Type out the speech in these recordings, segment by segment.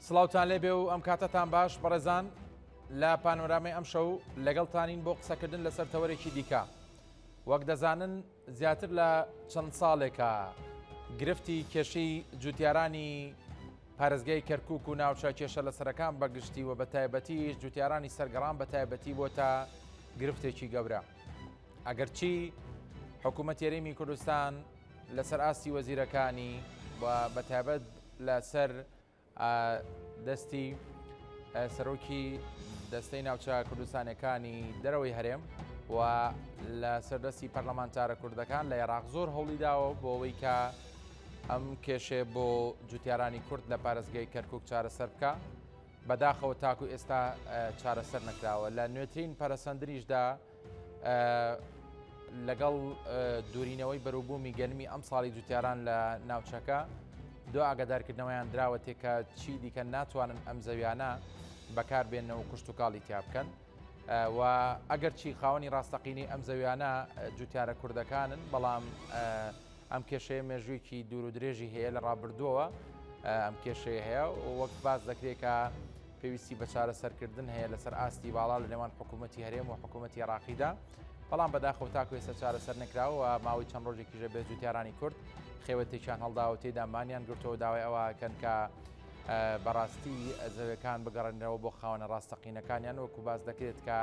سڵاوتان لێبێ و ئەم کاتەتان باش بەڕێزان لە پانۆرامەی ئەم شەو لەگەڵتانین بۆ قسەکردن لەسەر تەوەرێکی دیکە وەک دەزانن زیاتر لە چەند ساڵێکە گرفتی کێشی جوتیارانی پارێزگای کەرکک و ناوچە کێشە لە سەرەکان بەگشتی و بە تایبەتی جوتیارانی سەرگەڕان بە تایبەتی بۆ تا گرفتێکی گەورە ئەگەرچی حکوومەت یاریمی کوردستان لەسەر ئاستی وەزیرەکانی و بە تایبەت لە سەر دەستی سەرۆکی دەستەی ناوچە کوردستانەکانی دەرەوەی هەرێم و لە سەردەستی پەرلەمانتارە کوردەکان لە عێراق زۆر هەوڵی داوە بۆ ئەوەی کە ئەم کێشێ بۆ جوتیارانی کورد لە پارێزگەی کەرکک چارەسەر بکە بەداخەوە تاکو ئێستا چارەسەر نکراوە لە نوێترین پەرەسەندریشدا لەگەڵ دوورینەوەی بەروبوومی گەرمی ئەم ساڵی جوتیاران لە ناوچەکە دو ئاگادارکردنەوەیان دراوە تێکە چی دیکە ناتوانن ئەم زەویانە بەکاربێنەوە کوشت و کاڵی تیا بکەن و ئەگەر چی خاوەنی ڕاستەقینی ئەم زەویانە جوتیارە کوردەکانن بەڵام ئەم کێشەیە مێژوویەکی دوور و درێژی هەیە لە ڕابردووەوە ئەم کێشەیە هەیە و وەک باس دەکرێت کە پێویستی بە چارەسەرکردن هەیە لەسەر ئاستی باڵا لە نێوان حکوومەتتی هەرێم و حکوومەتتی عراقیدا بەڵام بەداخەوە تاکو ێستا چارەسەر نکراوە ماوەی چەند ڕۆژێکیژە بێت جوتیارانی کورد خێوەتێکیان هەڵداوە تێدا مانیان گرتەوە داوای ئەوەکەن کە بەڕاستی زەوەکان بگەڕێنەوە بۆ خاوەنە ڕاستەقینەکانیان وەکو باس دەکرێت کە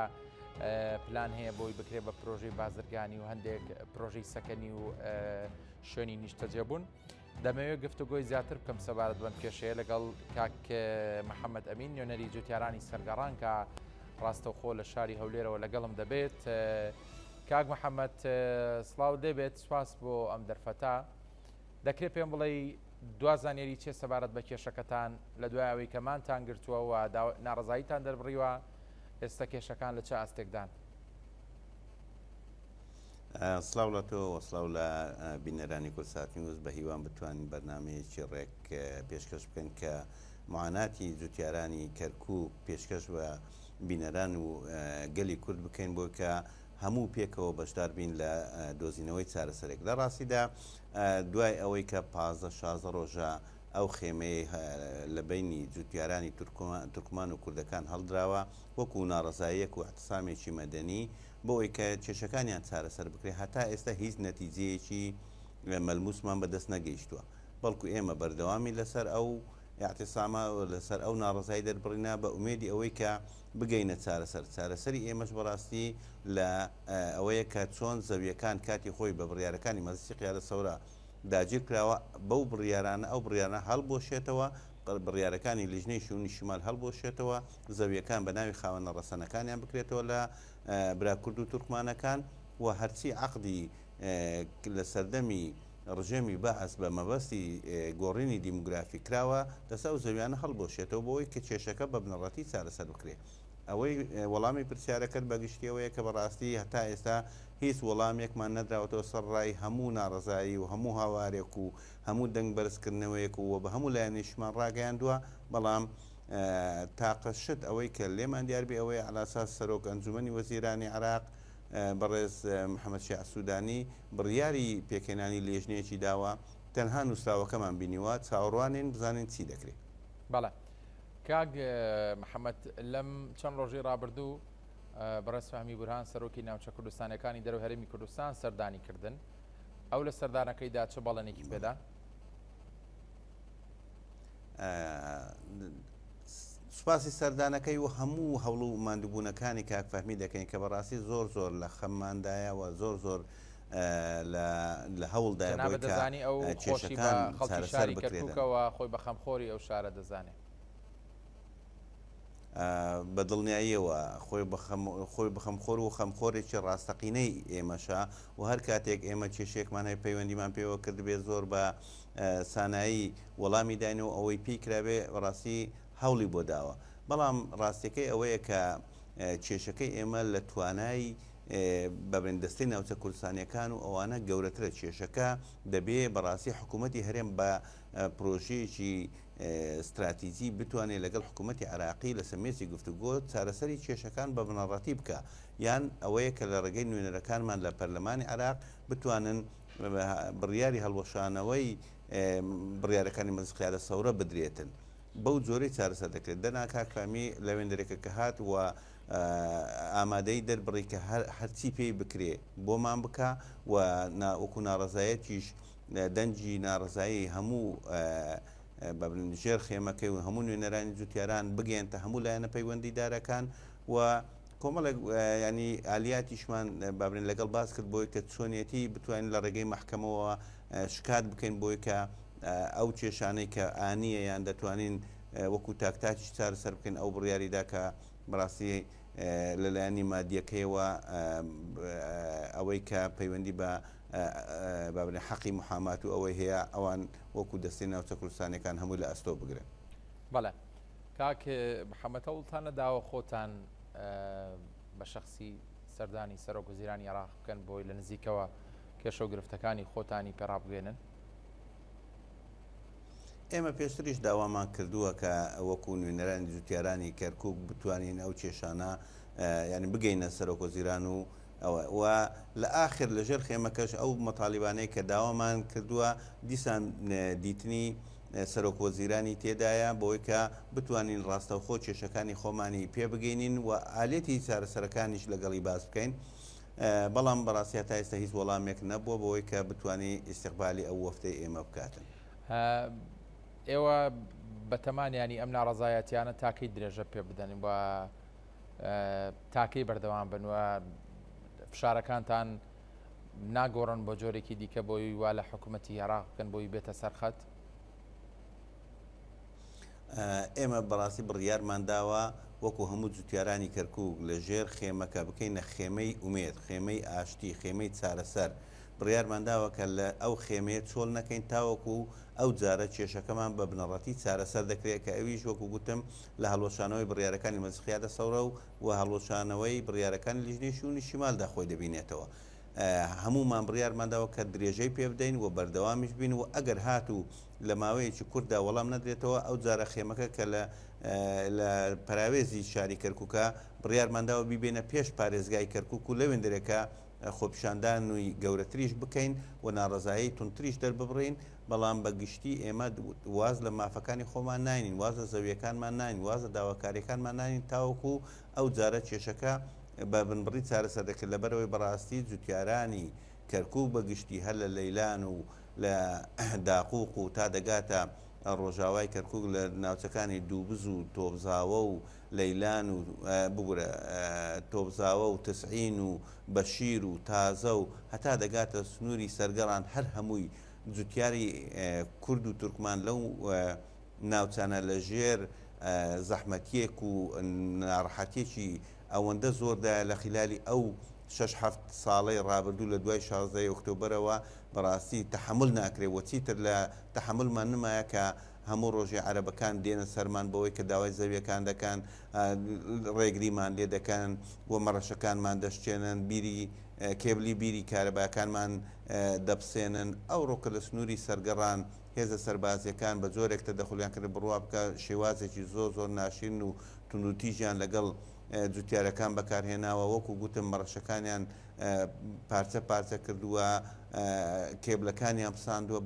پلان هەیە بۆی بکرێت بە پرۆژەی بازرگانی و هەندێک پرۆژەی سەکەنی و شوێنی نیشتەجێبوون دەمەوێت گفتوگۆی زیاتر بکەم سەبارەت بەم کێشەیە لەگەڵ کاک محەممەد ئەمین نوێنەری جوتیارانی سەرگەڕان کە ڕاستەوخۆ لە شاری هەولێرەوە لەگەڵم دەبێت کاک محەممەد سلااو دەبێت سپاس بۆ ئەم دەرفەتا دەکرێت پێم بڵێی دوا زانیاری چیە سەبارەت بە کێشەکەتان لە دوای ئەوەی کە مانتان گرتووە و ناڕەزاییتان دەربڕیوە ئێستا کێشەکان لە چ ئاستێکدان؟ سڵاو لە تۆ و سڵاو لە بینەرانی کورسات نیوز بە هیوام بتوانین بەرنمەیەکی ڕێک پێشکەش بکەن کە معاناتی جوتیارانی کەرکک پێشکەش بە بینەران و گەلی کورد بکەین بۆ کە هەموو پێکەوە بەشدار بین لە دۆزینەوەی چارەسەرێک. لە ڕاستیدا دوای ئەوەی کە پازدە شازدە ڕۆژە ئەو خێمەیەی لە بەینی جووتیارانی تورکمان و کوردەکان هەڵدراوە وەکوو ناڕەزاییەک و ئیعتسامێکی مەدەنی بۆ ئەوەی کە کێشەکانیان چارەسەر بکرێت هەتا ئێستا هیچ نەتیجەیەکی مەلمووسمان بە دەست نەگەیشتووە بەڵکوو ئێمە بەردەوامین لەسەر ئەو ئیعتسامە لەسەر ئەو ناڕەزایی دەربڕینە بە ئومێدی ئەوەی کە بگەینە چارەسەر، چارەسەری ئێمەش بەڕاستی لە ئەوەیە کە چۆن زەوییەکان کاتی خۆی بە بڕیارەکانی مەجلیسی قیادە سەورە داگیر کراوە، بەو بڕیارانە ئەو بڕیارانە هەڵبوەشێتەوە، بڕیارەکانی لیژنەی شیوونی شمال هەڵبوەشێتەوە، زەوییەکان بە ناوی خاوەنە ڕەسەنەکانیان بکرێتەوە لە برا کورد و تورکمانەکان و هەرچی عەقدی لە سەردەمی ڕژێمی بەعس بە مەبەستی گۆڕینی دیموگرافی کراوە دەست ئەو زەویانە هەڵبوەشێتەوە بۆوەی کە کێشەکە بە بنەڕەتی چارەسەر بکرێ. ئەوەی وەڵامی پرسیارەکەت بە گشتی ئەوەیە کە بە ڕاستی هەتا ئێستا هیچ وەڵامێکمان نەدراوەتەوە سەر ڕای هەموو ناڕەزایی و هەموو هاوارێک و هەموو دەنگ بەرز کردنەوەیەک و وە بە هەموو لایەنێکیشمان ڕاگەیاندوە بەڵام تاقە شت ئەوەی کە لێمان دیار بێ ئەوەیە عەلاساس سەرۆک ئەنجومەنی وەزیرانی عێراق بەڕێز محەمەد شیاع سودانی بڕیاری پێکهێنانی لێژنەیەکی داوە، تەنها نوسراوەکەمان بینیوە، چاوەڕوانین بزانین چی دەکرێ. بەڵێ کاک محەمەد لەم چەند ڕۆژەی ڕابردوو بەڕێز فەهمی بورهان سەرۆکی ناوچە کوردستانیەکانی دەرەوەی هەرێمی کوردستان سەردانی کردن، ئەو لە سەردانەکەیدا چ بەڵێنێکی پێدا؟ سوپاسی سەردانەکەی و هەموو هەوڵ و ماندووبوونەکانی کاک فەهمی دەکەین کە بەڕاستی زۆر زۆر لە خەمماندایە و زۆر زۆر لە هەوڵدا دەزانی ئەو کێشەکان خەڵکی شاری کەرککەوە خۆی بە خەمخۆری ئەو شارە دەزانێت بە دڵنیاییەوە خۆی خۆی بخەم خۆر و خەمخۆرێکی ڕاستەقینەی ئێمەشە و هەر کاتێک ئێمە کێشێکمان هەیە پەیوەندیمان پێوە کردبێت زۆر بە سانایی وەڵامی داین و ئەوەی پێی کرابێ بەڕاستی هەوڵی بۆ داوە بەڵام ڕاستیەکەی ئەوەیە کە کێشەکەی ئێمە لە توانای بەبن دەستەی ناوچە کوردستانیەکان و ئەوانە گەورەترە کێشەکە دەبێ بەڕاستی حکوومەتتی هەرێم بە پرۆژەیەکی استراتیزی بتوانێت لەگەڵ حکوومەتتی عراقی لە سمێسی گفتوگۆ چارەسەری کێشەکان بە بنەڕەتی بکە یان ئەوەیە کە لە ڕێگەی نوێنەرەکانمان لە پەرلەمانی عراق بتوانن بڕیاری هەڵوەشانەوەی بڕیارەکانی مەجلس قیادە سەورە بدرێتن. بەو جۆرەی چارەسەر دەکرێت. دەنا کاک فەهمی لە وێندەرێکە کە هات و ئامادەیی دەربڕی کە هەرچی پێی بکرێ بۆمان بکا و وەکو ناڕەزایەتیش دەنگی ناڕەزایی هەموو بە بڵێن ژێر خێمەکەی و هەموو نوێنەرانی جوتیاران بگەیەنتە هەموو لایەنە پەیوەندیدارەکان و کۆمەڵێک یانی ئالیاتیشمان بابرێن لەگەڵ باس کرد بۆی کە چۆنیەتی بتوانین لە ڕێگەی مەحکەمەوە شکات بکەین بۆی کە ئەو کێشانەی کە ئانیە یان دەتوانین وەکو تاک تاکیش چارە سەر بکەین ئەو بڕیاریدا کە بەڕاستی لەلایەنی مادیەکەیەوە ئەوەی کە پەیوەندی بە بابرێن حەقی محامات و ئەوەی هەیە ئەوان وەکو دەستی ناوچە کوردستانەکان هەمووی لە ئەستۆ بگرن. بەڵێ کاک محمد هەوڵتان نەداوە خۆتان بە شخصی سەردانی سەرۆک وزیرانی عێراق بکەن بۆی لە نزیکەوە کێشە و گرفتەکانی خۆتانی پێڕابگەێنن ئێمە پێشتریش داوامان کردووە کە وەکو نوێنەرانی جوتیارانی کەرکک بتوانین ئەو کێشانە یعنی بگەینە سەرۆک وزیران و ئەوە و لە ئاخر لەژێر خێمەکەش ئەو مەتالیبانەیە کە داوامان کردووە دیسان دیتنی سەرۆک وەزیرانی تێدایە بەوەی کە بتوانین ڕاستەوخۆ کێشەکانی خۆمانی پێ بگەینین و ئالێتی چارەسەرەکانیش لەگەڵی باس بکەین بەڵام بەڕاستی هەتا ئێستا هیچ وەڵامێک نەبووە بەوەی کە بتانی ئیستقبالی ئەو وەفتەی ئێمە بکاتن. ئێوە بەتەمان یانی ئەم ناڕەزایەتیانە تاکەی درێژە پێ بدەن و تاکەی بەردەوام بن و فشارەکانتان ناگۆڕن بۆ جۆرێکی دیکە بۆی وا لە حکومەتی عێراق بکەن بۆی بێتە سەر خەت؟ ئێمە بەڕاستی بڕیارمان داوە وەکو هەموو جوتیارانی کەرکوک لە ژێر خێمەکە بکەینە خێمەی ئومێد، خێمەی ئاشتی، خێمەی چارەسەر. بڕیارمان داوە کە لە ئەو خێمەیە چۆل نەکەین تاوەکو ئەو جارە کێشەکەمان بە بنەڕەتی چارەسەر دەکرێت کە ئەویش وەکو گوتم لە هەڵوەشانەوەی بڕیارەکانی مەجخیادە سەورە و و هەڵوەشانەوەی بڕیارەکانی لیژنەی شوونی شیمالدا خۆی دەبینێتەوە. هەموومان بڕیارمان داوە کە درێژەی پێ بدەین و بەردەوامیش بین و ئەگەر هاتوو لە ماوەیەکی کورتدا وەڵام نەدرێتەوە ئەوجارە خێمەکە کە لە لە پەراوێزی شاری کەرکووکە بڕیارمان داوە بیبەینە پێش پارێزگای کەرکووک و لەوێندەرێکە خۆپیشاندانووی گەورەتریش بکەین و ناڕەزایەی توندتریش دەرببڕین. بەڵام بە گشتی ئێمە واز لە مافەکانی خۆمان ناینین، واز لە زەوییەکانمان ناینین، واز لە داواکارییەکانمان ناینین تاوەکو ئەو جارە کێشەکە بە بنبڕی چارەسەر دەکرێت، لەبەرئەوەی بەڕاستی جوتیارانی کەرکووک بە گشتی هەر لە لەیلان و لە داقووق و تا دەگاتە ڕۆژاوای کەرکووک لە ناوچەکانی دووبز و تۆبزاوە و لەیلان و ببورە تۆبزاوە و تسعین و بەشیر و تازە و هەتا دەگاتە سنووری سەرگەڕان هەر هەمووی جوتیاری کورد و تورکمان لەو ناوچانە لە ژێر زەحمەتیەک و ناڕەحەتیەکی ئەوەندە زۆردایە لە خیلالی ئەو شەش حەفت ساڵەی ڕابردوو لە دوای شازدە ی ئۆکتۆبەرەوە بەڕاستی تەحەمول ناکرێ و چیتر لە تەحەمولمان نمایە کە هەموو ڕۆژێ عەرەبەکان دێنە سەرمان بەوەی کە داوای زەویەکان دەکەن ڕێگریمان لێ دەکەن و مەڕەشەکانمان دەشکێنن بیری کێبلی بیری کارەباکانمان دەپسێنن، ئەوڕۆکە لە سنووری سەرگەڕان هێزە سەربازییەکان بە جۆرێک تەدەخولیان کردە بڕواکە شێوازێکی زۆر زۆر ناشرین و توندوتیژیان لەگەڵ جوتیارەکان بەکارهێناوە، وەکو گوتم مەڕەشەکانیان پارچە پارچە کردووە، کێبلەکانیان پساندووە،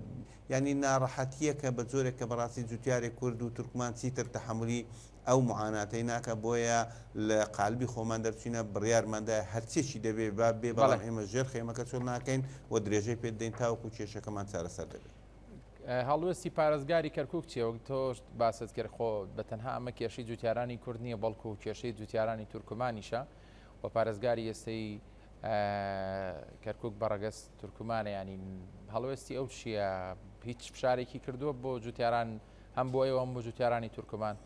یانی ناڕەحەتییەکە بە جۆرێک کە بەڕاستی جوتیارێک کورد و تورکمان چیتر تەحەمولی ئەو معاناتەی ناکا بۆیە لە قالبی خۆمان دەرچوینە بڕیارمان دا هەرچێکی دەبێ با بێ بەڵام بەڵێ. ئێمە ژێر خێمەکە چۆل ناکەین و درێژەی پێ دەدەین تاوەکو کێشەکەمان چارەسەر دەبێ. هەڵوێستی پارێزگاری کەرکوک چیە؟ وەک تۆش باست کرد خۆ بە تەنها ئەمە کێشەی جوتیارانی کورد نیە بەڵکو کێشەی جوتیارانی تورکمانیشە و پارێزگاری ئێستەی کەرکوک بە ڕەگەز تورکمانە یانی هەڵوێستی ئەو چیە هیچ فشارێکی کردوە بۆ جوتیاران هەم بۆ ئێوە هەم بۆ جوتیارانی تورکمان؟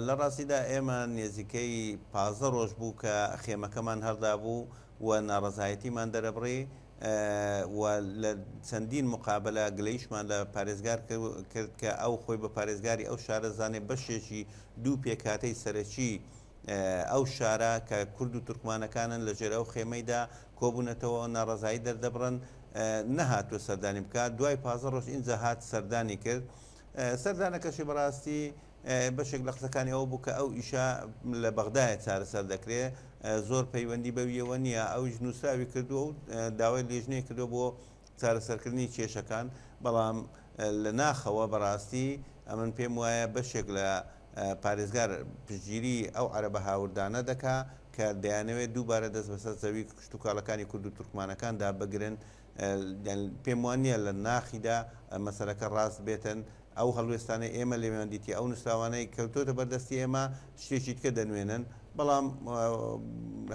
لە ڕاستیدا ئێمە نێزیکەی پازدە ڕۆژ بوو کە خێمەکەمان هەردابوو و ناڕەزایەتیمان دەرەبڕی و لە چەندین مقابلە گلەیشمان لە پارێزگار کرد کە ئەو خۆی بە پارێزگاری ئەو شارەزانێ بەشێکی دوو پێکاتەی سەرەکی ئەو شارە کە کورد و تورکمانەکانن لە ژێر ئەو خێمەیدا کۆبوونەتەوە و ناڕەزایی دەردەبڕن، نەهاتووە سەردانی بکات، دوای پازدە ڕۆژ ئینجا هات سەردانی کرد، سەردانەکەشی بەڕاستی بەشێک لە قسەکانی ئەوە بوو کە ئەو ئیشە لە بەغدایە چارەسەر دەکرێ، زۆر پەیوەندی بەویەوە نییە، ئەویش نووسراوی کردووە و داوای لێژنەی کردووە بۆ چارەسەرکردنی کێشەکان، بەڵام لە ناخەوە بەڕاستی ئەمن پێم وایە بەشێک لە پارێزگار پشتگیریی ئەو عەرەبە هاوردانە دەکا کە دەیانەوێت دووبارە دەست بەسەر زەوی کشتوکاڵەکانی کورد و تورکمانەکاندا بگرن، پێم وا نییە لە ناخیدا مەسەلەکە ڕاست بێتن، ئەو هەڵوێستانەی ئێمە لێویان دیتیە، ئەو نووسراوانەی کەوتۆتە بەر دەستی ئێمە شتێکی دیکە دەنوێنن، بەڵام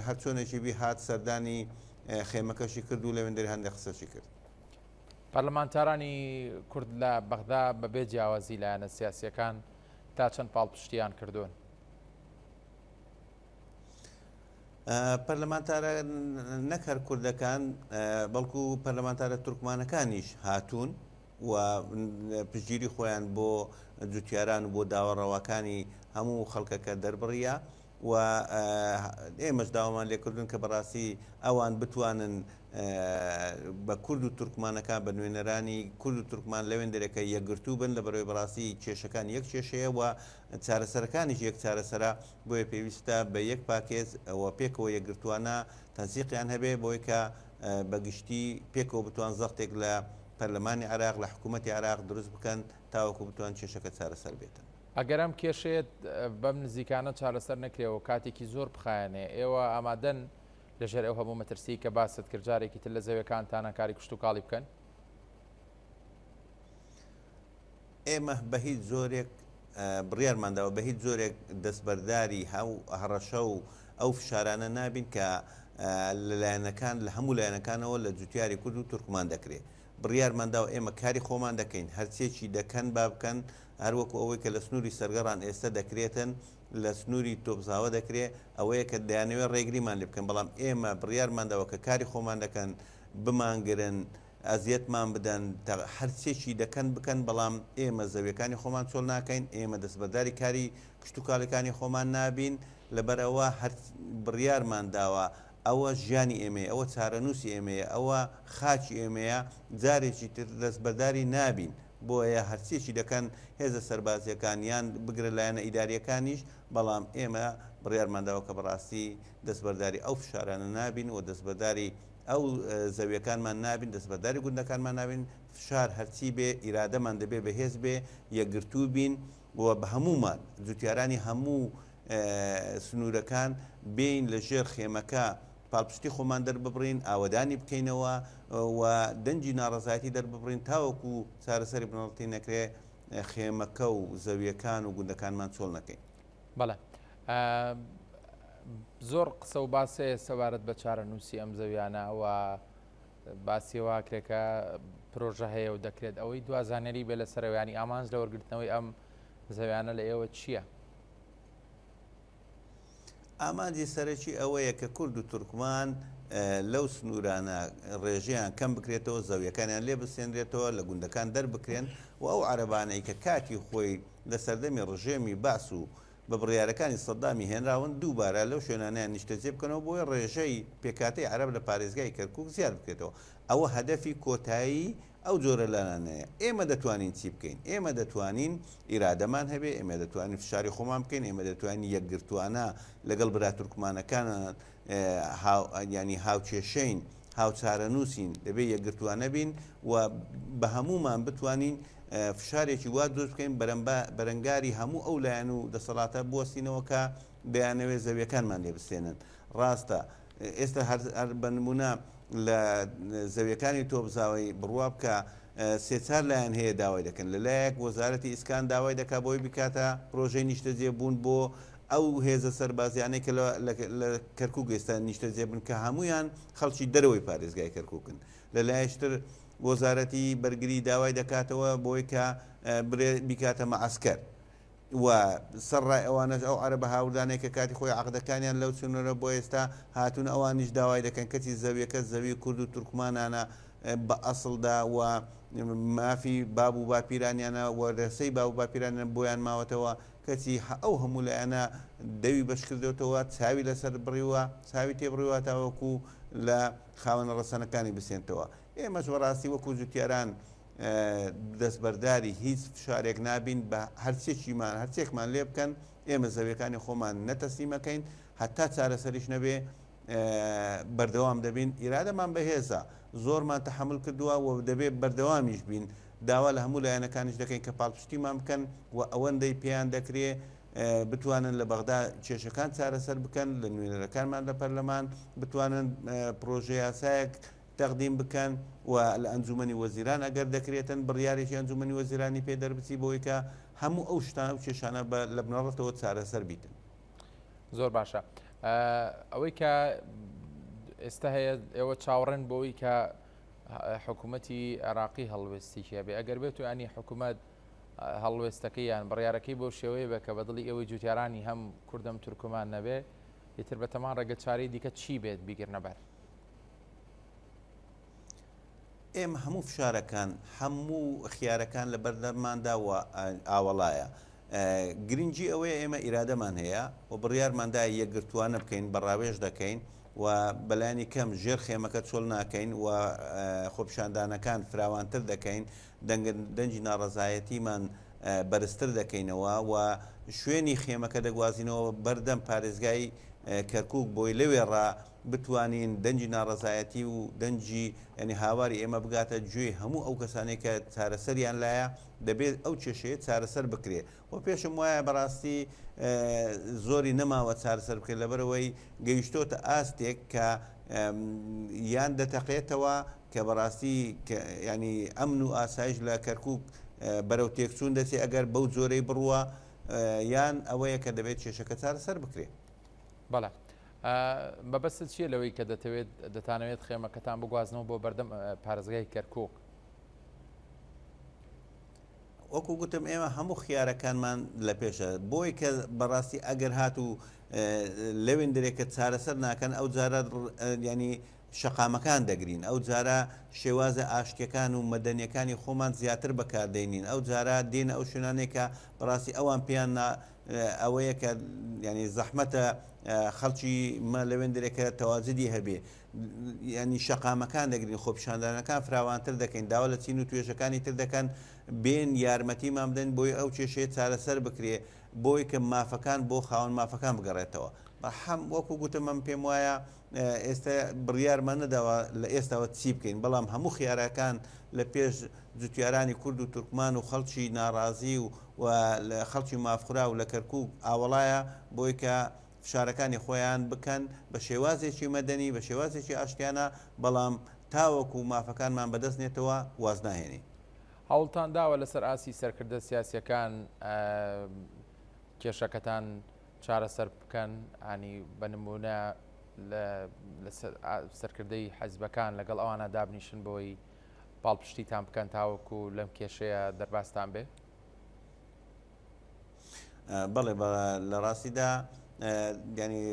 هەرچۆنێکی بی هات سەردانی خێمەکەشی کرد و لەوێندەری هەندێک قسەشی کرد. پەرلەمانتارانی کورد لە بەغدا بەبێ جیاوازی لایەنە سیاسییەکان، تا چەند پاڵپشتیان کردوون؟ پەرلەمانتارە نەک هەر کوردەکان بەڵکو پەرلەمانتارە تورکمانەکانیش هاتوون و پشگیری خۆیان بۆ جوتیاران و بۆ داوە ڕەواکانی هەموو خەڵکەکە دەربڕە و ئێمەش داوامان لێکردوون کە بەڕاستی ئەوان بتوانن بە کورد و تورکمانەکان بە نوێنەرانی کورد و تورکمان لەوێندرێکە یەکگرتوو بن لە بەرەوەی بەڕاستی کێشەکان یەک کێشەیە و چارەسەرەکانیش یەک چارەسەرە بۆیە پێویستە بە یەک پاکێز ئەوە پێکەوە یەکگرتووانە تەنسیقیان هەبێ بۆی کە بەگشتی پێکەوە بتوان زەختێک لە پەرلەمانی عراق لە حکوومەتتی عراق دروست بکەن تاوەکو بتوان کێشەکە چارەسەر بێتن. ئەگەر ئەم کێشەیە بەم نزیکانە چارەسەر نەکرێ و کاتێکی زۆر بخایەنێ، ئێوە ئامادەن لەژێر ئەو هەموو مەترسیی کە باست کرد جارێکی تر لە زەویەکانتانا کاری کشتوکاڵی بکەن؟ ئێمە بە هیچ جۆرێک بڕیارمان داوە بە هیچ جۆرێک دەستبەرداری هەو هەڕەشە و ئەو فشارانە نابین کە لە لایەنەکان لە هەموو لایەنەکانەوە لە جوتیاری کورد و تورکمان دەکرێت. بڕیارمان داوە ئێمە کاری خۆمان دەکەین، هەرچییەکی دەکەن با بکەن، هەروەکو ئەوەی کە لە سنووری سەرگەڕان ئێستە دەکرێتن، لە سنووری تۆپزاوە دەکرێ، ئەوەیە کە دەیانەوێ ڕێگریمان لێ بکەن، بەڵام ئێمە بڕیارمان داوە کە کاری خۆمان دەکەن، بمانگرن، ئەزیەتمان بدەن، تە، هەرچێکی دەکەن بکەن، بەڵام ئێمە زەوییەکانی خۆمان چۆڵ ناکەین، ئێمە دەستبەرداری کاری کشتوکاڵیکانی خۆمان نابین، لەبەر ئەوە هەر بڕیارمان داوە ئەوە ژیانی ئێمەیە، ئەوە چارەنووسی ئێمەیە، ئەوە خاکی ئێمەیە، جارێکی تر دەستبەرداری نابین، بۆیە هەرچییەکی دەکەن هێزە سەربازییەکان یان بگرە لایەنە ئیدارییەکانیش، بەڵام ئێمە بڕیارمانداوە کە بەڕاستی دەستبەرداری ئەو فشارانە نابین و دەستبەرداری ئەو زەوییەکانمان نابین، دەستبەرداری گوندەکانمان نابین، فشار هەرچی بێ ئیرادەمان دەبێ بەهێز بێ، یەکگرتوو بین و بە هەموومان، جووتیارانی هەموو سنوورەکان بێین لە ژێر خێمەکە پاڵپشتی خۆمان دەرببڕین ئاوەدانی بکەینەوە و دەنجی ناڕزایەتی دەرببڕین تاوەکو چارەسەری بنەڕەتی نەکرێ خێمەکە و زەویەکان و گوندەکانمان چۆڵ نەکەین بەڵێ زۆر قسە و باسێ سەبارەت بە چارە نووسی ئەم زەویانە و باسیواکرێکە پرۆژە هەیە و دەکرێت ئەوەی دوازانەری بێ لە سەرەوەیانی ئامانج لە وەرگرتنەوەی ئەم زەویانە لە ئێوە چییە؟ ئامانجی سەرەکی ئەوەیە کە کورد و تورکمان لەو سنوورانە ڕێژیان کەم بکرێتەوە زەویەکانیان لێ بسێنرێتەوە لە گوندەکان دەربکرێن و ئەو عربانەی کە کاتی خۆی لە سەردەمی ڕژێمی باس و بە بڕیارەکانی سەدامی هێنراون دووبارە لەو شوێنانیان نیشتەجێ بکەنەوە بۆی ڕێژەی پێکاتی عرب لە پارێزگای کەرکک زیاد بکرێتەوە ئەوە هەدەفی کۆتایی ئەو جۆرە لانانەیە ئێمە دەتوانین چی بکەین؟ ئێمە دەتوانین ئیرادەمان هەبێ، ئێمە دەتوانین فشاری خۆمان بکەین، ئێمە دەتوانین یەکگرتووانە لەگەڵ برا تورکمانەکانان یانی هاوکێشەین، هاوچارەنووسین، دەبێ یەکگرتووانە بین و بە هەموومان بتوانین فشارێکی وا دروست بکەین بەرەنگاری هەموو ئەو لایەن و دەسەڵاتە بوەستینەوە کە دەیانەوێت زەویەکانمان لێ بستێنن ڕاستە ئێستا هەر بە نموونە لە زەویەکانی تۆپزاوەی بڕوا بکە سێ چار لایەن هەیە داوای دەکەن لە لایەک وەزارەتی ئیسکان داوای دەکا بۆی بکاتە پرۆژەی نیشتەجێ بوون بۆ ئەو هێزە سەربازیانەی کە لە کەرکک ئێستا نیشتەجێ بن کە هەمویان خەڵکی دەرەوەی پارێزگای کەرککن لە لایشتر وەزارەتی بەرگری داوای دەکاتەوە بۆی کە بکاتە مەعسکەر. و سەرڕای ئەوانەش ئەو عەرەبە هاوردانەی کە کاتی خۆی عەقدەکانیان لەو چنۆرە بۆ ئێستا هاتوون ئەوانیش داوای دەکەن کەچی زەویەکە زەوی کورد و تورکمانانە بە ئەسڵدا و مافی باب و باپیرانیانە و رێسەی باب و باپیرانیان بۆیان ماوەتەوە کەچی ئەو هەموو لایەنە دەوی بەشکردۆتەوە چاوی لەسەر بڕیوە چاوی تێ بڕیوە تاوەکو لە خاوەنە ڕەسەنەکانی بسێنتەوە ئێمەش بەڕاستی وەکو جوتیاران دەستبەرداری هیچ فشارێک نابین بە هەرچێکیمان هەرچێکمان لێ بکەن ئێمە زەویەکانی خۆمان نەتەسلیمەکەین هەتا چارەسەریش نەبێ بەردەوام دەبین ئیرادەمان بەهێزە زۆرمان تەحمل کردووە و دەبێت بەردەوامیش بین داوا لە هەموو لایەنەکانیش دەکەین کە پاڵپشتیمان بکەن و ئەوەندەی پێیان دەکرێ بتوانن لە بەغدا کێشەکان چارەسەر بکەن لە نوێنەرەکانمان لە پەرلەمان بتوانن پرۆژه یاسایەک تەقدیم بکەن و لە ئەنجومەنی وەزیران ئەگەر دەکرێتن بڕیارێکی ئەنجومەنی وەزیرانی پێ دەربچی بەوەی کە هەموو ئەو شتان ئەو کێشانە بە لە بنەڕەتەوە چارەسەر بیتن. زۆر باشە ئەوەی کە ئێستا هەیە ئێوە چاوەڕێن بۆی کە حکوومەتی عێراقی هەڵوێستیکە بێ ئەگەر بێت و ئەنی حکوومەت هەڵوێستەکەی یان بڕارەکەی بۆ شێوەیە بە کە بەدڵی ئەوەی جوتیارانی هەم کوردم تورکمان نەبێ ئیتر بەتەمان ڕێگە چاری دیکە چی بێت بیگرنەبەر. ئێمە هەموو فشارەکان هەموو خیارەکان لە بەردەرماندا و ئاوەڵایە گرنگجی ئەوەیە ئێمە ئیرادەمان هەیە و بڕیارماندا یەکگرتووانە بکەین بە ڕاوێژ دەکەین و بەلانی کەم ژێر خێمەکە چۆل ناکەین و خۆپشاندانەکان فراوانتر دەکەین دەنگی ناڕزایەتیمان بەرزتر دەکەینەوە و شوێنی خێمەکە دەگوازینەوە بەردەم پارێزگای کەرکک بۆی لەوێڕا بتوانین دەنگی ناڕەزایەتی و دەنگی یانی هاواری ئێمە بگاتە گوێی هەموو ئەو کەسانەی کە چارەسەریان لایە دەبێت ئەو کێشەیە چارەسەر بکرێ وە پێشم وایە بەڕاستی زۆری نەماوە چارەسەر بکرێت لەبەرەوەی گەیشتۆتە ئاستێک کە یان دەتەقێتەوە کە بەڕاستی ینی ئەمن و ئاسایش لە کەرکک بەرەو تێکچوون دەچێت ئەگەر بەو جۆرەی بڕوە یان ئەوەیە کە دەبێت کێشەکە چارەسەر بکرێت بەڵێ مەبەستت چییە لەوەی کە دەتەوێت دەتانەوێت خێمەکەتان بگوازنەوە بۆ بەردەم پارێزگای کەرکوک؟ وەکو گوتم ئێمە هەموو خیارەکانمان لە پێشە بۆی کە بەڕاستی ئەگەر هات و لەوێن درێکە چارەسەر ناکەن ئەو جارە ینی شەقامەکان دەگرین ئەو جارە شێوازە ئاشتەکان و مەدەنیەکانی خۆمان زیاتر بەکاردێنین ئەو جارە دێن ئەو شوێنانێکە بەڕاستی ئەوان پێیان ئەوەیە کە ینی زەحمەتە خەڵکی مە لەوێندرێک کە تەواجدی هەبێ ینی شەقامەکان دەگرین خۆپشاندانەکان فراوانتر دەکەین داوا لە چین و توێژەکانی تر دەکەن بێن یارمەتی مامدەن بۆی ئەو کێشەیە چارەسەر بکرێ بۆی کە مافەکان بۆ خاون مافەکان بگەڕێتەوە بەحەم وەکو گوتمم پێم وایە ئێستا بڕیارمان نەداوە لە ئێستاوە چی بکەین بەڵام هەموو خیارەکان لە پێش جوتیارانی کورد و تورکمان و خەڵکی ناڕازی و و لە خەڵکی مافخرا و لە کەرکک ئاوەڵایە بۆی کە فشارەکانی خۆیان بکەن بە شێوازێکی مەدەنی بە شێوازێکی ئاشتیانە بەڵام تاوەکو و مافەکانمان بەدەست نێتەوە وازناهێنین هەوڵتان داوە لەسەر ئاسی سەرکردە سیاسەکان کێشەکەتان چارەسەر بکەن ینی بە نمونە سەرکردەی حەزبەکان لەگەڵ ئەوانە دابنیشن بۆی پاڵپشتیتان بکەن تاوەکو لەم کێشەیە دەرباستان بێ بەڵێ لە ڕاستیدا گەنی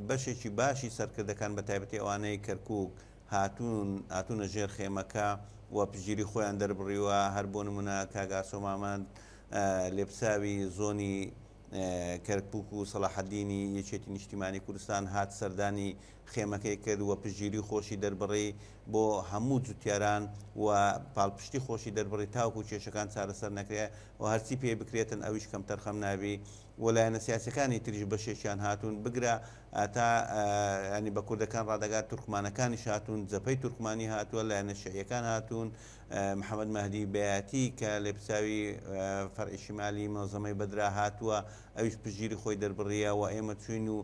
بەشێکی باشی سەرکردەکان بە تایبەتی ئەوانەی کەرکک هاتوون هاتوونە ژێر خێمەکە و پژگیری خۆیان دەربڕیوە هەر بۆ نمونە کاگاسۆمامەند لێپساوی زۆنی کەرکوک و سەڵاحەدینی یەکێتی نیشتیمانی کوردستان هات سەردانی خێمەکەی کرد و پشتگیری خۆشی دەربڕی بۆ هەموو جوتیاران و پاڵپشتی خۆشی دەربڕی تاوکو کێشەکان چارەسەر نەکرێ و هەرچی پێ بکرێتن ئەویش کەمتەرخەم نابی و لایەنە سیاسەکانی تریش بەشێکیان هاتوون بگرە تا ینی بە کوردەکان ڕادەگات تورکمانەکانیش هاتوون جەپەی تورکمانی هاتووە لایەنە شعیەکان هاتوون محەمەد مەهدی بەیاتی کە لێپرسراوی فەرعی شمالی مەنزەمەی بەدرا هاتووە ئەویش پشتگیری خۆی دەربڕییە و ئێمە چووین و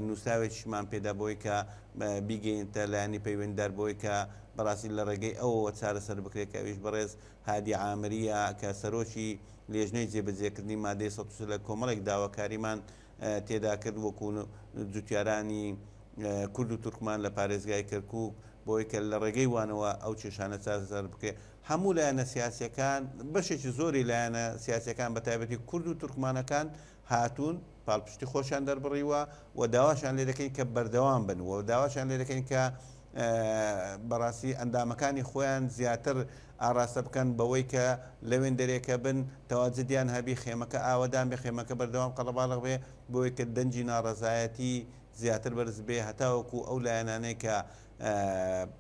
نووسراوێکیشمان پێدا بەوەی کە بیگەینێتە لایەنی پەیوەندیدار بەوەی کە بەڕاستی لە ڕێگەی ئەوەوە چارەسەر بکرێت کە ئەویش بەڕێز هادی عامرییە کە سەرۆکی لێژنەی جێبەجێکردنی مادەی سەد و سێ لە کۆمەڵێک داواکاریمان تێدا کرد وەکو جوتیارانی کورد و تورکمان لە پارێزگای کەرکوک بەوەی کە لە ڕێگەی وانەوە ئەو کێشانە چارەسەر بکرێت هەموو لایەنە سیاسیەکان بەشێکی زۆری لایەنە سیاسەکان بە تایبەتی کورد و تورکمانەکان هاتوون پاڵپشتی خۆشیان دەربڕیوە و داواشان لێ دەکەین کە بەردەوام بن و داواشان لێ دەکەین کە بەڕاستی ئەندامەکانی خۆیان زیاتر ئاڕاستە بکەن بەوەی کە لەوێندەرێکە بن تەواجدیان هەبی خێمەکە ئاوەدان بێ خێمەکە بەردەوام قەڵەباڵغ بێ بەوەی کە دەنگی ناڕەزایەتی زیاتر بەرز بێ هەتاوەکو ئەو لایەنانەی کە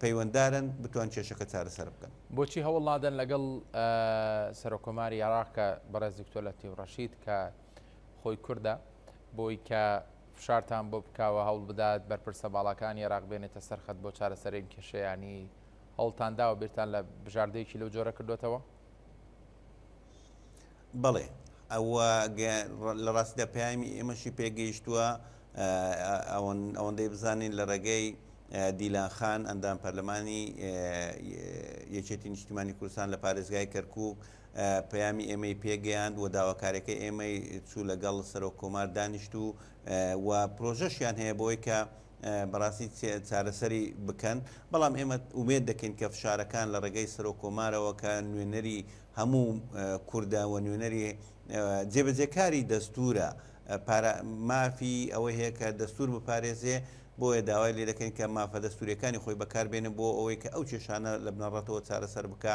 پەیوەندارن بتوان کێشەکە چارەسەر بکەن. بۆچی هەوڵ نادەن لەگەڵ سەرۆک کۆماری عێراق کە بەڕێز دکتۆر لەتیف ڕەشید کە خۆی کوردە بۆی کە فشارتان بۆ بکاوە هەوڵ بدات بەرپرسە باڵاکانی عێراق بێنێتە سەر خەت بۆ چارەسەری ئەم کێشەیانی هەوڵتان داوە بیرتان لە بژاردەیەکی لەو جۆرە کردۆتەوە؟ بەڵێ ئەوە لە ڕاستیدا پەیامی ئێمەشی پێگەیشتووە ئەوەندەی بزانین لە ڕێگەی دیلان خان ئەندام پەرلەمانی یەکێتی نیشتیمانی کوردستان لە پارێزگای کەرکک پەیامی ئێمەی پێگەیاند و داواکارەکە ئێمەی چوو لەگەڵ سەرۆک کۆمار دانیشت و و پرۆژەشیان هەیە بۆی کە بەڕاستی چارەسەری بکەن، بەڵام ئێمە ئومێد دەکەین کە فشارەکان لە ڕێگەی سەرۆک کۆمارەوە کە نوێنەری هەموو کوردە و نوێنەری جێبەجێکاری دەستورە مافی ئەوەی هەیە کە دەستور بپارێزێ بۆیە داوای لێ دەکەین کە مافە دەستوریەکانی خۆی بەکاربێنە بۆ ئەوەی کە ئەو کێشانە لە بنەڕەتەوە چارەسەر بکە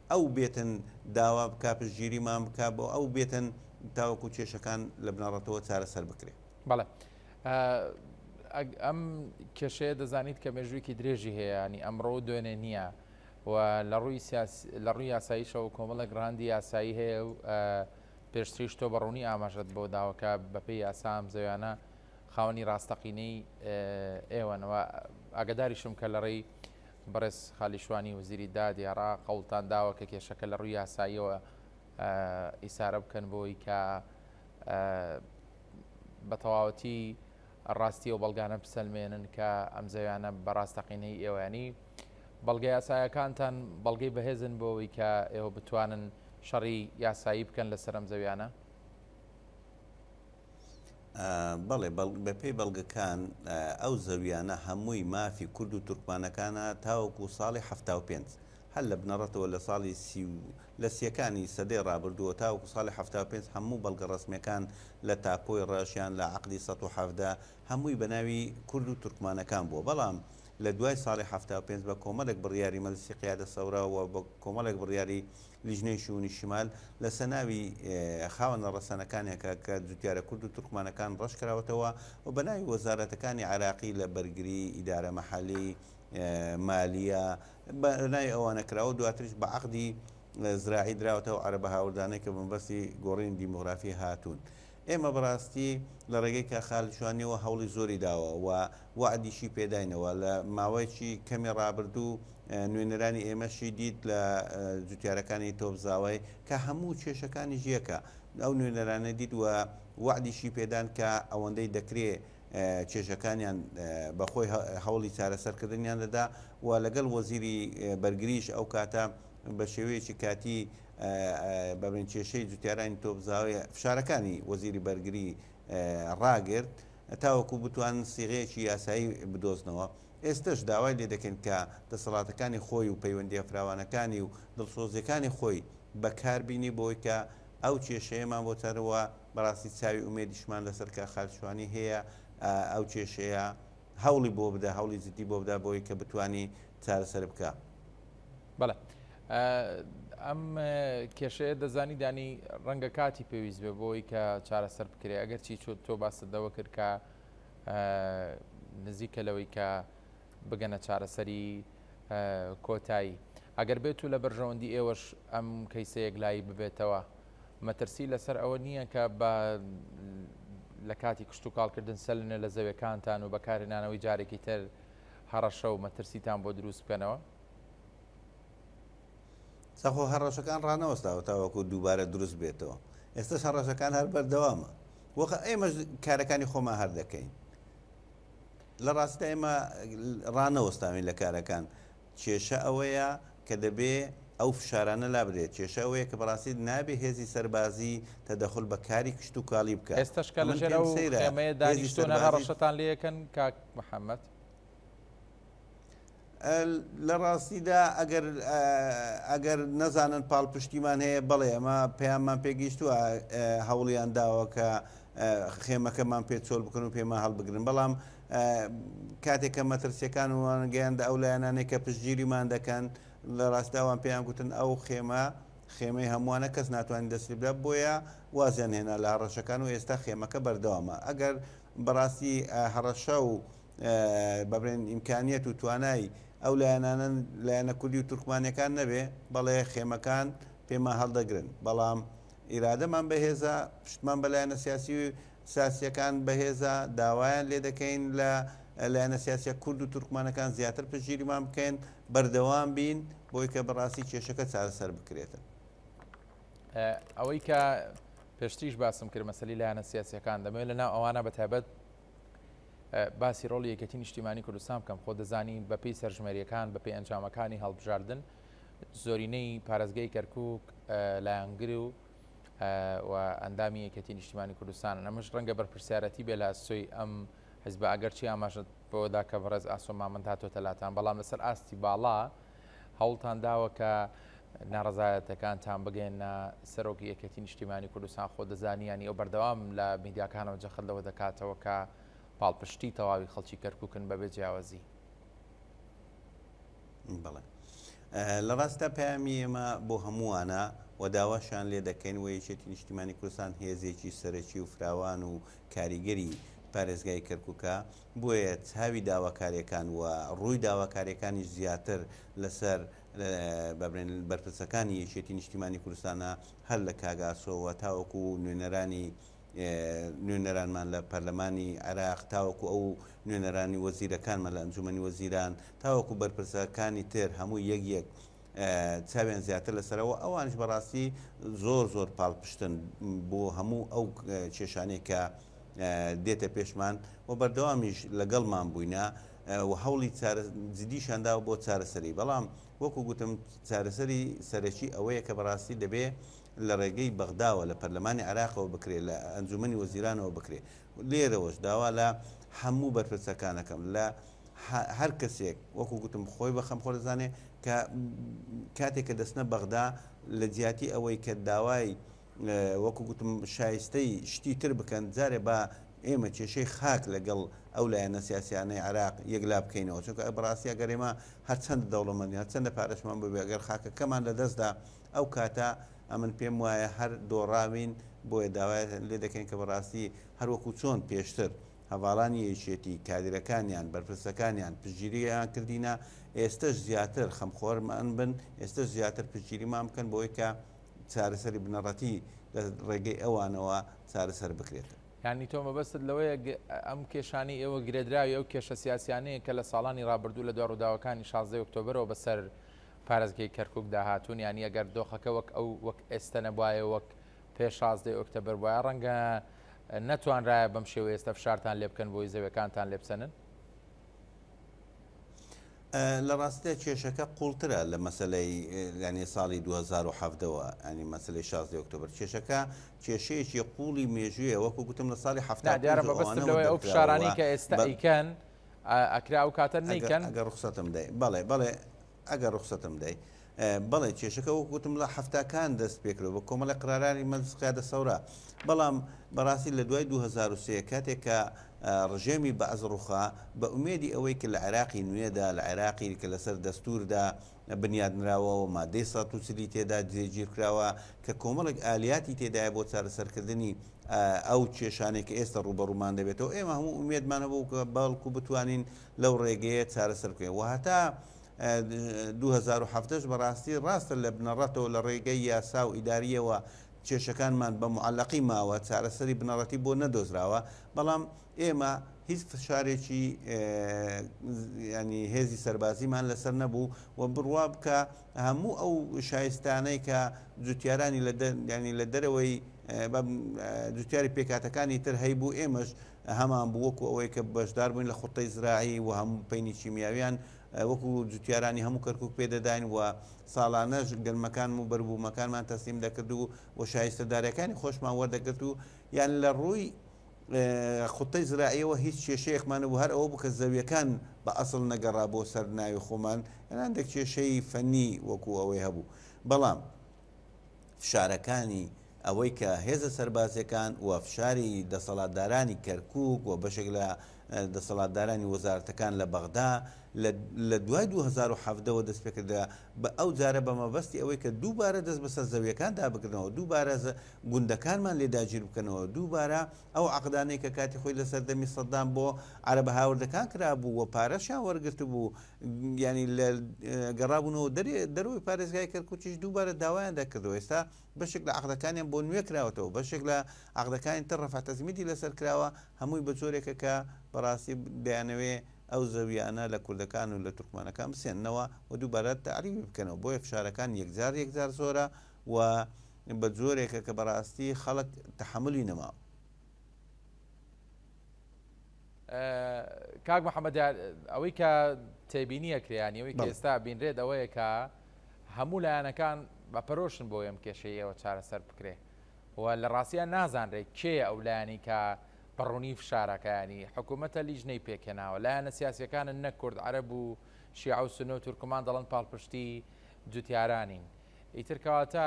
ئەو بێتن داوا بکا پشتگیری مان بکا بۆ ئەو بێتن تاوەکو کێشەکان لە بنەڕەتەوە چارەسەر بکرێ. بەڵێ ئەم کێشەیە دەزانیت کە مێژوویکی درێژی هەیە ینی ئەمڕۆ و دوێنێ نییە و لە ڕووی لە ڕووی یاساییشەوە کۆمەڵێک ڕاندی یاسایی هەیە و پێشتریش تۆ بەڕوونی ئاماژەت بۆ داوەکە بەپێی یاسا ئەم زەویانە خاوەنی ڕاستەقینەی ئێوەنەوە ئاگداریشم کە لە ڕێی بەڕێز خالید شوانی وەزیری دادی عێراق هەوڵتان داوە کە کێشەکە لە ڕووی یاساییەوە ئیسارە بکەن بۆی کە بە تەواوەتی ڕاستی و بەڵگانە بسەلمێنن کە ئەم زەویانە بە ڕاستەقینەی ئێوەیانی بەڵگە یاسایەکانتان بەڵگەی بەهێزن بۆەوەی کە ئێوە بتوانن شەڕی یاسایی بکەن لە سەرم زەویانە؟ بەڵێ بەپێی بەڵگەکان ئەو زەویانە هەمووی مافی کورد و تورکمانەکانە تاوەکو ساڵی هەفتا و پێنج هەر لە بنەڕەتەوە لە ساڵی سی و لە سیەکانی سەدەی ڕابردووە تاوەکو ساڵی هەفتا و پێنج هەموو بەڵگە ڕەسمیەکان لە تاپۆی ڕەش یان لە عەقدی سەد و حەڤدە هەمووی بە ناوی کورد و تورکمانەکان بووە بەڵام لە دوای ساڵی هەفتا و پێنج بە کۆمەڵێک بڕیاری مەجلیسی قیادە سەورە و بە کۆمەڵێک بڕیاری لیژنەی شوونی شمال لەسە ناوی خاوەنە ڕەسەنەکانێکە کە جوتیارە کورد و تورکمانەکان ڕەش کراوەتەوە و بە ناوی وەزارەتەکانی عێراقی لە بەرگری، ئیدارە مەحەلی، مالیە، بە ناوی ئەوانە کراوە و دواتریش بە عەقدی زراعی دراوەتە ئەو عەرەبە هاوردانەی کە بە مەبەستی گۆڕینی دیمۆغرافی هاتوون. ئێمە بەڕاستی لە ڕێگەی کاک خالد شوانیەوە هەوڵی زۆری داوە و وەعدیشی پێداینەوە لە ماوەیەکی کەمی ڕابردوو نوێنەرانی ئێمەشی دیت لە جوتیارەکانی تۆپ زاوای کە هەموو کێشەکانیش یەکە ئەو نوێنەرانە دیت و وەعدیشی پێدان کە ئەوەندەی دەکرێ کێشەکانیان بەخۆی هەوڵی چارەسەرکردنیان دەدا و لەگەڵ وەزیری بەرگریش ئەو کاتە بە شێوەیەکی کاتی بە بنکێشەی جوتیارانی تۆپزاوی فشارەکانی وەزیری بەرگری ڕاگرت تاوەکو بتوان سیغەیەکی یاسایی بدۆزنەوە ئێستش داوای لێ دەکەین کە دەسەڵاتەکانی خۆی و پەیوەندیە فراوانەکانی و دڵسۆزیەکانی خۆی بەکار بینی بۆی کە ئەو کێشەیەمان بۆ تەرەوە بەڕاستی چاوی ئومێدیشمان لەسەر کە خالشوانی هەیە ئەو کێشەیە هەوڵی بۆ بدە هەوڵی جدی بۆ بدا بۆی کە بتانی چارەسەر بکە. بەڵێ ئەم کێشەیە دەزانی دانی ڕەنگە کاتی پێویست بێ بۆی کە چارەسەر بکرێ ئەگەر چی چۆت تۆ باسەدەوە کرد کە نزیکە لەوەی کە بگەنە چارەسەری کۆتایی ئەگەر بێت و لە بەرژەوەندی ئێوەش ئەم کەیسە یەکلایی ببێتەوە مەترسی لەسەر ئەوە نییە کە بە لە کاتی کشت و کاڵکردن سەلنە لە زەوێکانتان و بەکارهێنانەوەی جارێکی تر هەڕەشە و مەترسیتان بۆ دروست بکەنەوە سەخۆ هەڕەشەکان ڕانەوەستاوە تاوەکو دووبارە دروست بێتەوە ئێستش هەڕەشەکان هەر بەردەوامە وەخە ئێمە کارەکانی خۆمان هەر دەکەین لە ڕاستدا ئێمە ڕانەوەستاوین لە کارەکان کێشە ئەوەیە کە دەبێ ئەو فشارانە لابرێت کێشە ئەوەیە کە بەڕاستی نابێ هێزی سەربازی تەدەخل بە کاری کشت و کاڵی بکە ئێستشکە لە ژێر سەیرەمەیە دانیشتۆنە هەڕەشەتان لەکەن کاک محەممەد لە ڕاستیدا ئەگەر ئەگەر نەزانن پاڵپشتیمان هەیە بەڵێ ئەمە پەیاممان پێگەیشتووە هەوڵیان داوە کە خێمەکەمان پێ چۆل بکەن و پێمان هەڵبگرن بەڵام کاتێکە مەترسیەکان وان گەیاندە ئەو لایەنانێک کە پشتگیریمان دەکەن لە ڕاستاوان پێیان گوتن ئەو خێمە خێمەی هەمووانە کەس ناتوانین دەستی بدا بۆیە وازیان هێنا لە هەڕەشەکان و ئێستا خێمەکە بەردەوامە ئەگەر بەڕاستی هەڕەشە و بەبرێن ئیمکانیەت و توانای ئەو لایەنانە لایەنە کوردی و تورکمانیەکان نەبێ بەڵێ خێمەکان پێمان هەڵدەگرن بەڵام ئیرادەمان بەهێزە پشتمان بە لایەنە سیاسی و ساسیەکان بەهێزە داوایان لێ دەکەین لە لایەنە سیاسە کورد و تورکمانەکان زیاتر پژیریمان بکەن بەردەوام بین بۆی کە بەڕاستی کێشەکە چارەسەر بکرێتن ئەوەی کە پێشتریش باسم کرد مەسلی لایەنە سیاسەکان دەمەوێت لە ناو ئەوانە بە تایبەت باسی ڕۆڵی یەکێتی نیشتیمانی کوردستان بکەم خۆ دەزانی بەپی سەرژمێریەکان بەپی ئەنجامەکانی هەڵبژاردن زۆرینەی پارێزگەی کەرکک لایەنگر و و ئەندامی یەکێتی نیشتیمانی کوردستان ئەمەش ڕەنگە بەرپرسیارەتی بێ لە سۆی ئەم حزب ئەگەرچی ئاماژت بۆدا کە بەڕێز ئاسۆ مامەند هاتۆتە لاتان بەڵام لەسەر ئاستی باڵا هەوڵتان داوە کە ناڕەزایەتەکانتان بگەێنە سەرۆکی یەکەتی نیشتیمانی کوردستان خۆ دەزانیانی ئەو بەردەوام لە میدیاکانەوە جەخت لەوە دەکاتەوە کە پاڵپشتی تەواوی خەڵکی کەرککن بەبێ جیاوازی بڵێ لە ڕاستە پامی ئێمە بۆ هەمووانە و داواشان لێ دەکەین و یەکێتی نیشتیمانی کوردستان هێزێکی سەرەکی و فراوان و کاریگەری پارێزگای کەرککە بۆیە چاوی داواکارێکان و ڕووی داواکاریەکانیش زیاتر لەسەر بەرپرسەکانی یەکێتی نیشتیمانی کوردستانە هەر لە کاک ئاسۆوە تاوەکو نوێنەرانی نوێنەرانمان لە پەرلەمانی عێراق تاوەکو ئەو نوێنەرانی وەزیرەکانمان لە ئەنجومەنی وەزیران تاوەکو بەرپرسەکانی تر هەموو یەک یەک چاویان زیاتر لەسەرەوە ئەوانیش بەڕاستی زۆر زۆر پاڵپشتن بۆ هەموو ئەو کێشانەی کە دێتە پێشمان و بەردەوامیش لەگەڵمان بووینە و هەوڵی جدیشانداوە بۆ چارەسەری بەڵام وەکو گوتم چارەسەری سەرەکی ئەوەیە کە بەڕاستی دەبێ لە ڕێگەی بەغداوە لە پەرلەمانی عراقەوە بکرێت لە ئەنجومی وەزیرانەوە بکرێت لێرەوەش داوا لە هەموو بەرپرسەکانەکەم لە هەر کەسێک وەکو گوتم خۆی بە خەمخۆر دەزانێ کە کاتێک کە دەستنە بەغدا لە جیاتی ئەوەی کە داوای وەکو گوتم شایستەی شتی تر بکەن جارێ بە ئێمە کێشەی خاک لەگەڵ ئەو لایەنە سیاسیانەی عراق یەکلا بکەینەوە چونکە بەڕاستی ئەگەر ئێمە هەرچەند دەوڵەمەندی هەرچەندە پارەشمان ببێ ئەگەر خاکەکەمان لە دەستدا ئەو کاتە ئەمن پێم وایە هەر دۆڕاوین بۆیە داوای لێ دەکەین کە بەڕاستی هەروەکو چۆن پێشتر هەڤاڵانی یەکێتی، کادیرەکانیان، بەرپرسەکانیان، پشتگیریان کردینە، ئێستەش زیاتر خەمخۆرمان بن، ئێستەش زیاتر پشتگیریمان بکەن بەوەی کە چارەسەری بنەڕەتی لە ڕێگەی ئەوانەوە چارەسەر بکرێتەوە. یانی تۆ مەبەستت لەوەیە ئەم کێشانەی ئێوە گرێدراوی ئەو کێشە سیاسیانەیە کە لە ساڵانی ڕابردوو لە دوای ڕووداوەکانی شازدە ی ئۆکتۆبەرەوە بە سەر پارێزگەی کەرکوکدا هاتوون، یانی ئەگەر دۆخەکە وەک ئەو وەک ئێستە نەبوایە وەک پێش شازدە ی ئۆکتەبەر بوایە ڕەنگە نەتوانرایە بەم شێوەیە ئێستا فشارتان لێ بکەن بۆی زەویەکانتان لێ بسەنن؟ لە ڕاستیدا کێشەکە قوڵترە لە مەسەلەی یانە ساڵی 2017ەوە ئەنی مەسلەی شازدە ئۆکتۆبر کێشەکە کێشەیەکی قوڵی مێژویە وەکو گوتم لە ساڵی هەفتا دیارە بەبستم لەوەی ئەو فشارانی کە ئێستا ئیکەن ئەکرا و کاتە نیکەن گە ڕخسەتم دەی بەڵێ بەڵێ ئەگەر ڕوخسەتم بدەی بەڵێ کێشەکە وەک وتم لە حەفتاکان دەست پێکرەوە بە کۆمەڵی قرارانی مەجلس قیادە سەورا بەڵام بەڕاستی لە دوای 2023 کاتێک کە ڕژێمی بەعز ڕوخا بە ئومێدی ئەوەی کە لە عێراقی نوێدا لە عێراقی کە لەسەر دەستوردا بنیاد نراوە و مادەی 130 تێدا جێگیر کراوە کە کۆمەڵێک ئالیاتی تێدایە بۆ چارەسەرکردنی ئەو کێشانێک کە ئێستا ڕوبەڕوومان دەبێتەوە ئێمە هەموو ئومێدمان هەبوو کە بەڵکو بتوانین لەو ڕێگەیە چارەسەر بکەین و هەتا دوو هەزار و حەڤدە ش بەڕاستی ڕاستە لە بنەڕەتەوە لە ڕێگەی یاسا و ئیدارییەوە کێشەکانمان بە موعەلەقی ماوە، چارەسەری بنەڕەتی بۆ نەدۆزراوە، بەڵام ئێمە هیچ فشارێکی یانی هێزی سەربازیمان لەسەر نەبوو و بڕوا بکە هەموو ئەو شایستانەی کە جوتیارانی لە یانی لە دەرەوەی جوتیاری پێکاتەکانی تر هەیبوو ئێمەش هەمان بوو وەکو ئەوەی کە بەشدار بووین لە خوتەی زراعی و هەم پەینی کیمیاویان وەکو جوتیارانی هەموو کەرکک پێدەداین و ساڵانەش گەنمەکان و بەربوومەکانمان تەسلیم دەکرد و و شایستە دارەکانی خۆشمان وەردەگرت و یان لە ڕووی خوتەی زراعیەوە هیچ کێشەیەکمانە بوو هەر ئەوە بوو کە زەویەکان بە ئەسڵ نەگەڕا بۆ سەر ناوی خۆمان هەندێک کێشەی فەنی وەکو ئەوەی هەبوو بەڵام فشارەکانی ئەوەی کە هێزە سەربازیەکان و فشاری دەسەڵاتدارانی کەرکوک و بەشێک لە دەسەڵاتدارانی وەزارەتەکان لە بەغدا لە دوای 2017 وە دەست پێکردرا بە ئەو جارە بە مەبەستی ئەوەی کە دووبارە دەست بەسەر زەویەکان دابگرنەوە دووبارە گوندەکانمان لێ داگیر بکەنەوە دووبارە ئەو عقدانەی کە کاتی خۆی لە سەردەمی سەددام بۆ عربە هاوردەکان کرابوو و پارەشیان وەرگرت بوو یانی گەڕابوونەوە دەروی پارێزگای کەرکوچیش دووبارە داوایان دەکردەوە ئێستا بەشێک لە عقدەکانیان بۆ نوێ کراوەتەوە بەشێک لە عقدەکانی تر ڕفاتەزمیدی لەسەر کراوە هەمووی بە جۆرێکە کە بەڕاستی دەیانەوێ ئەو زەویانە لە کوردەکان و لە تورکمانەکان بسێنەوە و دووبارە تعریبی بکەنەوە بۆیە فشارەکان یەکجار یەکجار زۆرە و بە جۆرێکە کە بەڕاستی خەڵک تحملی نەماوە کاک محەممەد دیار ئەوەی کە تێبینی ئەکرێ یان ئەوەی کە بەڵێ. ئێستا بینرێت ئەوەیە کە هەموو لایەنەکان بە پەرۆشن بۆ ئەم کێشەی ئێوە چارەسەر بکرێ و لە ڕاستیان نازانرێت کێ ئەو لایەنی کە بە ڕوونی فشارەکانی حکوومەتە لیژنەی پێکهێناوە لایەنە سیاسیەکانن نە کورد عەرەب و شیعە و سنە و تورکمان دەڵن پاڵپشتی جوتیارانین ئیتر کەواتە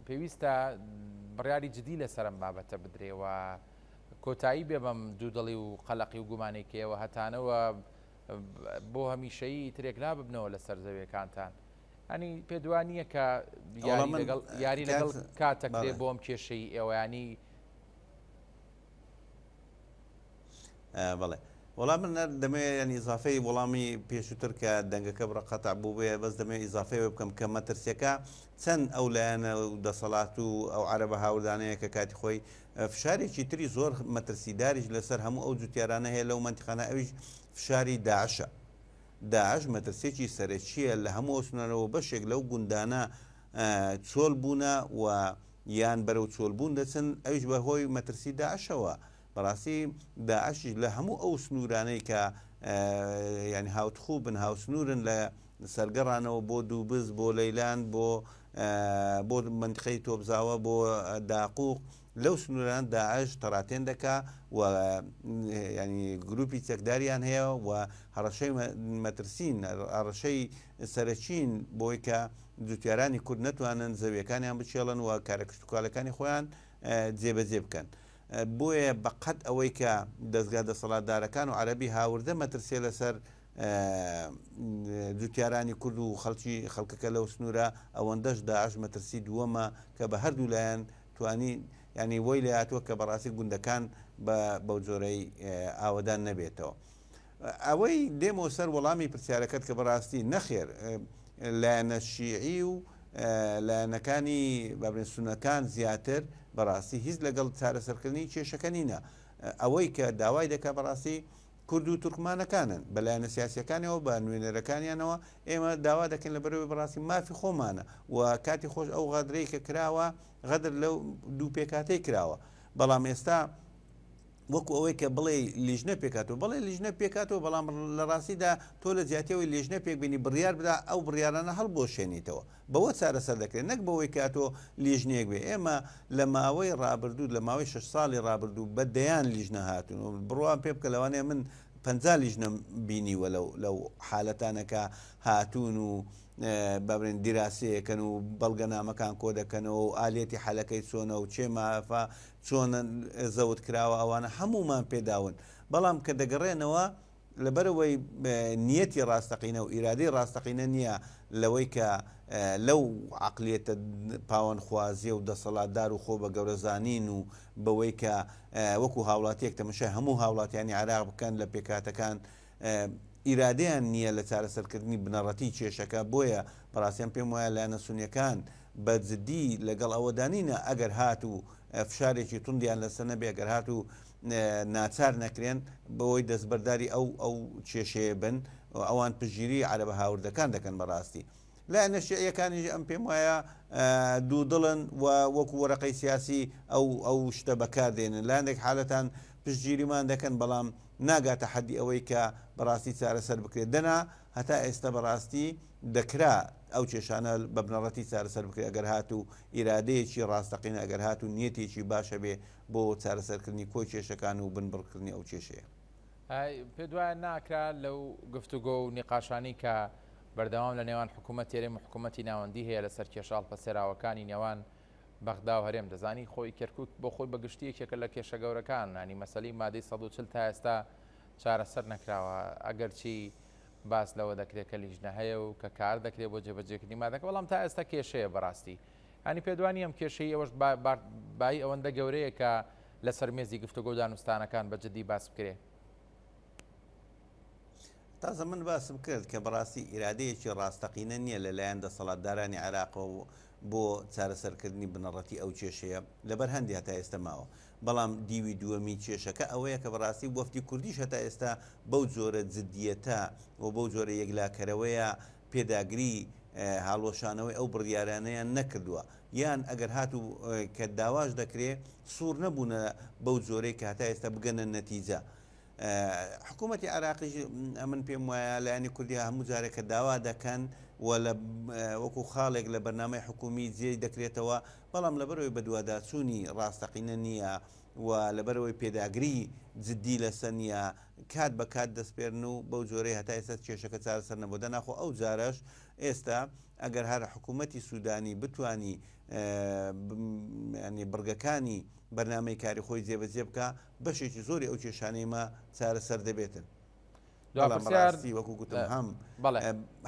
پێویستە بڕیاری جدی لەسەر ئەم بابەتە بدرێ و کۆتایی بێ بەم دوودڵی و قەلەقی و گومانەی کەیەوە هەتانەوە بۆ هەمیشەیی ئیترێک ناببنەوە لە سەر زەویەکانتان ئەنی پێدوا نییە کە یاری لەگەڵ کاتەکرێ بۆم کێشەی ئێوەیانی بەڵێ وەڵام من دەمێ ینی زافەی وەڵامی پێشووتر کە دەنگەکە بڕە قەتا بوو بێ بەس دەمێ ئیزافەیە بکەم کە مەترسیەکە چەند ئەو لایەنە و دەسەڵات و ئەو عربە هاوردانەیە کە کاتی خۆی فشارێکی تری زۆر مەترسیداریش لەسەر هەموو ئەو جوتیارانە هەیە لەو مەنتیقانە ئەویش فشاری داعشە داعش مەترسێکی سەرەکیە لە هەموو ئۆسنەرەوە بەشێک لەو گوندانە چۆل بوونە و یان بەرەو چۆلبوون دەچن ئەوش بە هۆی مەترسی داعشەوە بەڕاستی داعشیش لە هەموو ئەو سنوورانەی کە ینی هاوتخوو بن هاوسنورن لە سەر گەڕانەوە بۆ دووبز، بۆ لەیلان، بۆ بۆ مەنتقەی تۆپزاوە، بۆ داقووق، لەو سنوورانە داعش تەڕاتێن دەکا و یانی گرووپی چەکداریان هەیە و هەڕەشەی مەترسین، هەڕەشەی سەرەکین بۆی کە جووتیارانی کورد نەتوانن زەوییەکانیان بچێڵن و کارە کشتوکاڵەکانی خۆیان جێبەجێ بکەن. بۆیە بە قەد ئەوەی کە دەزگا دەسەڵاتدارەکان و عەرەبی هاوردە مەترسێ لەسەر جوتیارانی کورد و خەڵکی خەڵکەکە لەو سنوورە ئەوەندەش داعش مەترسی دووەمە کە بە هەردوو لایەن توانی ینی وەی لەاتوە کە بەڕاستی گوندەکان بە بەو جۆرەی ئاوەدان نەبێتەوە ئەوەی دێمەوە سەر وەڵامی پرسیارەکەت کە بەڕاستی نەخێر لایەنە شیعی و لایەنەکانی بابرێن سونەکان زیاتر بەڕاستی هیچ لەگەڵ چارەسەرکردنی کێشەکە نینە ئەوەی کە داوای دەکە بەڕاستی کورد و تورکمانەکانن، بە لایەنە سیاسییەکانیەوە، بە نوێنەرەکانیانەوە، ئێمە داوا دەکەین لە بەرەوەی بەڕاستی مافی خۆمانە و کاتی خۆش ئەو غەدرەی کە کراوە غەدر لەو دوو پێکهاتەی کراوە، بەڵام ئێستا وەکو ئەوەی کە بڵێ لیژنە پێکاتەوە بڵێ لیژنە پێکاتەوە بەڵام لە ڕاستیدا تۆ لە جیاتیەوەی لێژنە پێکبینی بڕیار بدا ئەو بڕیارانە هەڵبۆشێنیتەوە بەوە چارەسەر دەکرێت نەک بەوەی کە ئەتۆ لیژنەیەک بێت، ئێمە لە ماوەی ڕابردوو لە ماوەی شەش ساڵی ڕابردوو بە دەیان لیژنە هاتوون و بڕوام پێ بکە لەوانەیە من پەنجا لیژنەم بینیوە لەو حالەتانە کە هاتوون و بابرێن دیراسەیەکەن و بەڵگەنامەکان کۆ دەکەنەوە و ئالەتی حەلەکەی چۆنە و چێ مافا چۆنە زەوت کراوە ئەوانە هەمومان پێداون بەڵام کە دەگەڕێنەوە لەبەرئەوەی نیەتی ڕاستەقینە و ئیرادەی ڕاستەقینە نیە لەوەی کە لەو عەقلیەتە پاوانخوازیە و دەسەڵاتدار و خۆ بە گەورە زانین و بەوەی کە وەکو هاوڵاتیەک تەمەشای هەموو هاوڵاتیانی عێراق بکەن لە پێکهاتەکان ئیرادەیان نیە لە چارەسەرکردنی بنەڕەتی کێشەکە بۆیە بەڕاستی من پێم وایە لایەنە سونیەکان بە جدی لەگەڵ ئەوەدا نینە ئەگەر هاتوو فشارێکی توندیان لەسەر نەبێ ئەگەر هاتوو ناچار نەکرێن بەوەی دەستبەرداری ئەو ئەو کێشەیە بن و ئەوان پشتگیری عەرەبە هاوردەکان دەکەن بەڕاستی لایەنە شیعیەکانیش ئەم پێم وایە دوودڵن و وەکو وەرەقەی سیاسی ئەو ئەو شتە بەکاردێنن لاندێک حالەتان پشتگیریمان دەکەن بەڵام ناگاتە حەدی ئەوەی کە بەڕاستی چارەسەر بکرێت دەنا هەتا ئێستا بەڕاستی دەکرا ئەو کێشانە بە بنەڕەتی چارەسەر بکرێت ئەگەر هاتوو ئیرادەیەکی ڕاستەقینە ئەگەر هاتوو نیەتێکی باشە بێ بۆ چارەسەرکردنی کۆی کێشەکان و بنبڕکردنی ئەو کێشەیە. پێت وایە ناکرا لەو گفتوگۆ و نیقاشانەی کە بەردەوام لە نێوان حکوومەتی هەرێم و حکوومەتی ناوەندی هەیە لە سەر کێشە هەڵپەسێراوەکانی نێوان بەغدا و هەرێم، دەزانی خۆی کەرکووک بۆ خۆی بە گشتی یەکێکە لە کێشە گەورەکان، یانی مەسەلەی مادەی سەد و چل تا ئێستا چارەسەر نەکراوە، ئەگەرچی باس لەوە دەکرێ کە لیژنە هەیە و کە کار دەکرێ بۆ جێبەجێکردنی مادەکە، بەڵام تا ئێستا کێشەیە بەڕاستی. یانی پێتوا نییە ئەم کێشەی ئێوەش بایی ئەوەندە گەورەیە کە لەسەر مێزی گفتوگۆ و دانوستانەکان بە جددی باس بکرێ؟ تازە من باسم کرد کە بەڕاستی ئیرادەیەکی ڕاستەقینە نییە لەلایەن دەسەڵاتدارانی عێراقەوە بۆ چارەسەرکردنی بنەڕەتی ئەو کێشەیە لەبەر هەندی هەتا ئێستە ماوە، بەڵام دیوی دووەمی کێشەکە ئەوەیە کە بەڕاستی وەفدی کوردیش هەتا ئێستا بەو جۆرە جددیەتە و بەو جۆرە یەکلاکەرەوەیە پێداگری هاڵوەشانەوەی ئەو بڕیارانەیان نەکردوە یان ئەگەر هاتو کە داواش دەکرێ سوڕ نەبونە بەو جۆرەی کە هەتا ئێستا بگەنە نەتیجە حکوومەتی عراقیش ئەمن پێم وایە لایەنی کوردی هەموو جارێک کە داوا دەکەن و لە وەکو خاڵێک لە بەرنمەی حکومی جێ دەکرێتەوە بەڵام لەبەرەوەی بەدواداچوونی ڕاستەقینە نییە و لەبەرەوەی پێداگری جددی لەسە نیە کات بە کات دەسپێرن و بەو جۆرەی هەتا ئێستا کێشەکە چارەسەر نەبووە دەنا خۆ ئەو جارەش ئێستا ئەگەر هەر حکوومەتی سوودانی بتانی ینی بڕگەکانی بەرنمەی کاری خۆی جێبەجێ بکە بەشێکی زۆری ئەو کێشانەی مە چارەسەر دەبێتن. دوڕاستی وەکو گوتم هەم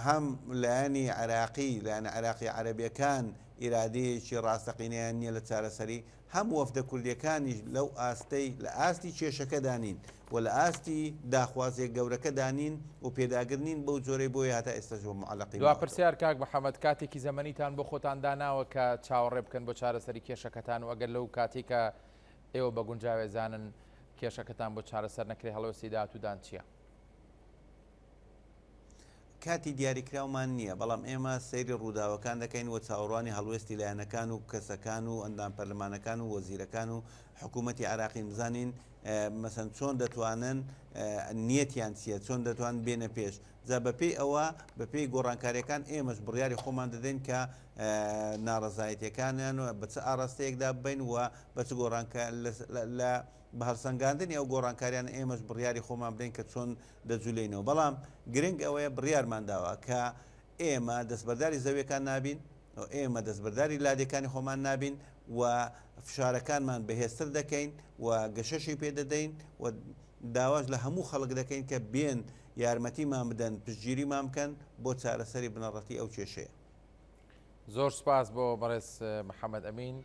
هەم لایەنی عراقی لایەن عراقی عەربیەکان ئیرادەیەکی ڕاستەقینەیان نییە لە چارەسەری هەم وەفدە کوردیەکانیش لەو ئاستەی لە ئاستی کێشەکەدا نین و لە ئاستی داخوازیە گەورەکەدا نین و پێداگر نین بەو جۆرەی بۆیە هەتا ئێستەش بە موعەلەقی دوا ماوەتەوە. پرسیار، کاک محەمەد کاتێکی زەمەنیتان بۆ خۆتان داناوە کە چاوەڕێ بکەن بۆ چارەسەری کێشەکەتان و ئەگەر لەو کاتەی کە ئێوە بە گونجاوێ زانن کێشەکەتان بۆ چارەسەر نەکرێ هەڵوێستی داهاتوودان چیە؟ کاتی دیاریکراومان نییە، بەڵام ئێمە سەیری ڕووداوەکان دەکەین و چاوەڕوانی هەڵوێستی لایەنەکان و کەسەکان و ئەندام پەرلەمانەکان و وەزیرەکان و حکوومەتی عێراقین بزانین مەسەن چۆن دەتوانن نیەتیان چییە چۆن دەتوان بێنە پێش جا بەپێی ئەوە بەپێی گۆڕانکاریەکان ئێمەش بڕیاری خۆمان دەدەین کە ناڕزایەتەکانیان و بە چ ئاراستەیەکدا بین و بە چ گۆڕانکە لە بە هەڵسەنگاندنی ئەو گۆڕانکاریان ئێمەش بڕیاری خۆمان بدەین کە چۆن دەجولێینەوە بەڵام گرنگ ئەوەیە بڕیارمان داوە کە ئێمە دەستبەرداری زەویەکان نابین و ئێمە دەستبەرداری لادێکانی خۆمان نابین و فشارەکانمان بەهێزتر دەکەین و گەشەشی پێ دەدەین و داواش لە هەموو خەڵک دەکەین کە بێن یارمەتیمان بدەن پشتگیریمان بکەن بۆ چارەسەری بنەڕەتی ئەو کێشەیە زۆر سوپاس بۆ بەڕێز محەمەد ئەمین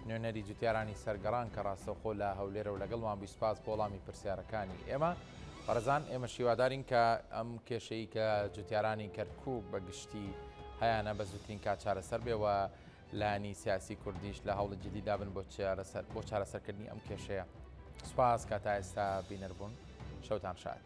نوێنەری جوتیارانی سەرگەڕان کە ڕاستەوخۆ لە هەولێرە و لەگەڵمان بی سوپاس بۆ وەڵامی پرسیارەکانی ئێمە بەڕزان ئێمە شیوادارین کە ئەم کێشەی کە جوتیارانی کەرکک بە گشتی هەیەە بە زووترین کا چارەسەر بێەوە لانی سیاسی کوردیش لە هەوڵی جدی دابن بۆ چارەسەر بۆ چارەسەرکردنی ئەم کێشەیە سوپاس کە تا ئێستا بینەربوون شەوتان شاد.